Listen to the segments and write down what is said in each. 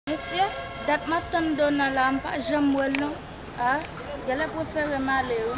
Mesye dat map tann dona la m pa janm wèl non ah gèlè preferem ale wi.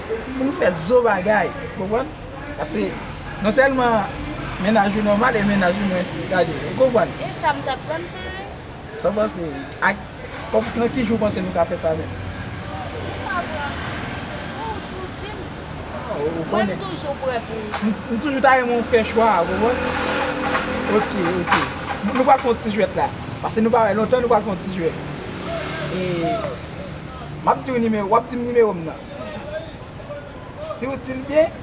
pou nou fè zo bagay ou konprann paske non sèlman mennaj ou nòmal e mennaj ou mwen gade ou konprann. E sa m tap tann chere. Sa w panse ak nan ki jou w panse nou ka fè sa menm. Ou pa pran ou ou di m mwen m toujou prè pou ou. M toujou ta renmen w fè chwa a ou konprann ok ok nou pral fè yon ti jwèt la paske nou pa wè lontan nou pral fè yon ti jwèt e map di w nimewo wap di m nimewo m nan. Siw dil byen,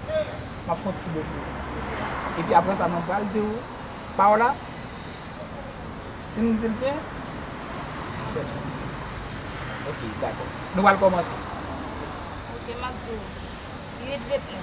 map fon ti bo pou ou. Epi aprè sa mwen pral diw paw la, sim dil byen, ou fè ti bo pou mwen. Ok, dakò. Nou pral kòmanse. Ok, map diw, li ret ret la.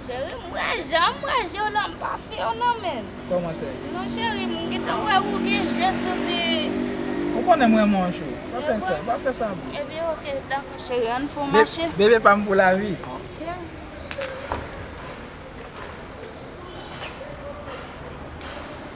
Cheri m wè janm wè jew la m pa few nan menm. Koman sè. Non cheri m gentan wè ou gen je sou di. Ou konnen m renmen w an chou. Pa fè sa pa fè sa non. Ebyen ok dako cheri ann fon mache. Bebe pam pou lavi. Ok.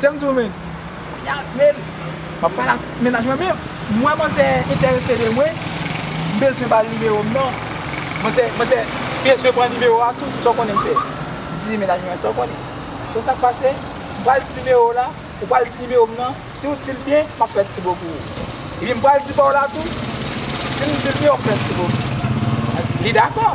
Tèl m di w men kounya men m ap pale ak mennaj mwen men m wè manzè enterese de mwen m bezwen ba l nimewo m nan manzè manzè bezwen pran nimewo a tou sa w konnen m fè m di mennaj mwen sa w konnen konnen sa k pase m pral di nimewo w la ou pral di nimewo m nan si w di l byen m ap fè ti bo pou ou epi m pral di pa w la tou si m di l byen w ap fè ti bo pou m li dakò.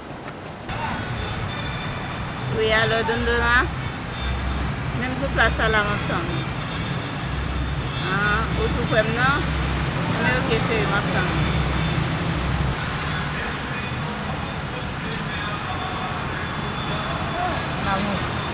Wi alo Dondona Menm sou plas sa la map tann ou Ou tou kwèm nan Anmwey ok cheri map tann ou Lanmou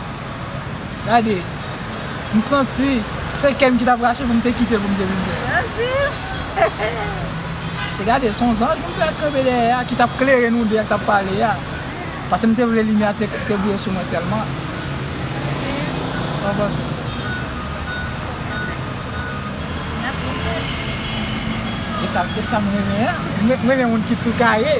Gade, m santi se kè m ki t ap rache pou m te kite pou m te vin fè. Pase gade, s on zanj m te wè k kanpe dèyè a ki t ap klere nou de a k t ap pale a. Pase m te vle limyè a te brile sou mwen sèlman. Sa w panse? E sa m renmen an. M renmen moun ki tou kare.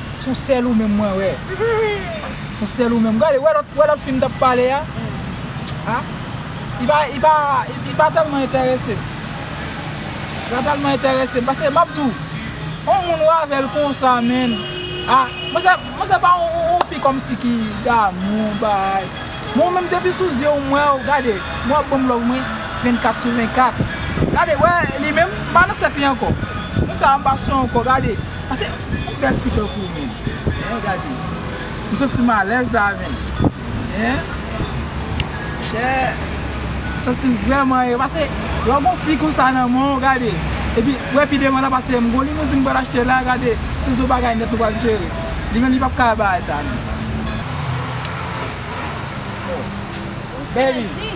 Son sel ou menm mwen we. Son sel ou menm gade we lot we lot fi mtap pale a ah li pa li pa telman enteresem li pa telman enteresem paske map diw on moun ou avel konsa menn ah mwen se pa on fi komsi ki damou bay men ou menm depi sou zyew mwew gade mwen wap banm love mwen 24 sou 24 gade we li menm mpa nan sèk li anko moun sa mpa sou anko gade. Pase yon bel fi tankou w menm hein gade m santi m alèz la menm hein chè m santi m vrèman e pase lè w gon fi konsa nan men w gade epi ou wè pi devan nan pase m gon limouzi m pral achte la gade se zo bagay nèt nou pral jere li menm li pap ka bay sa non oh baby.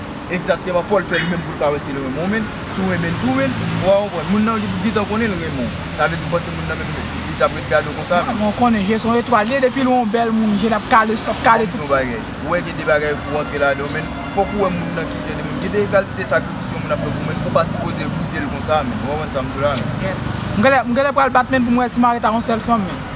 Exactement fòl fè li menm poul ka wè sil renmen w men si w renmen l tou men ou pa konprann moun nan gntan konnen l renmen w sa vle di ou panse moun nan menm li tap ret gade w konsa menm. Mwen konnen je son etwal ye depil wè yon bèl moun jel ap kale sou ap kale tout. Map diw yon bagay ou wè gen de bagay ou antre ladanw menn fòk ou wè moun nan ki jan de moun gen de kalite sakrifis yon moun ap fè pou menn ou pa sipoze bousel konsa menn ou pa konprann sam diw la menn. Mgenlè pral bat menn poum wè si mare ta yon sèl fanm menn.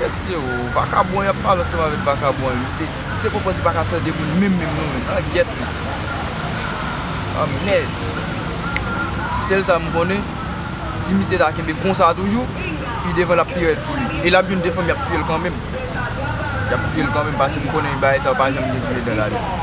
Mesye oo vakabon yap pale ansanm avek vakabon ui se se poko di paka tande moun menm menm nou menm an gyèt menm anmèd sèl sa m konnen si misye ta kenbe konsa toujou pi devan lap pi rèd pou li e lap jwenn 2 fanm yap tiyel kan menm yap tiyel kan menm paske m konnen bagay sa yo pa janm gen gou ledan ladan.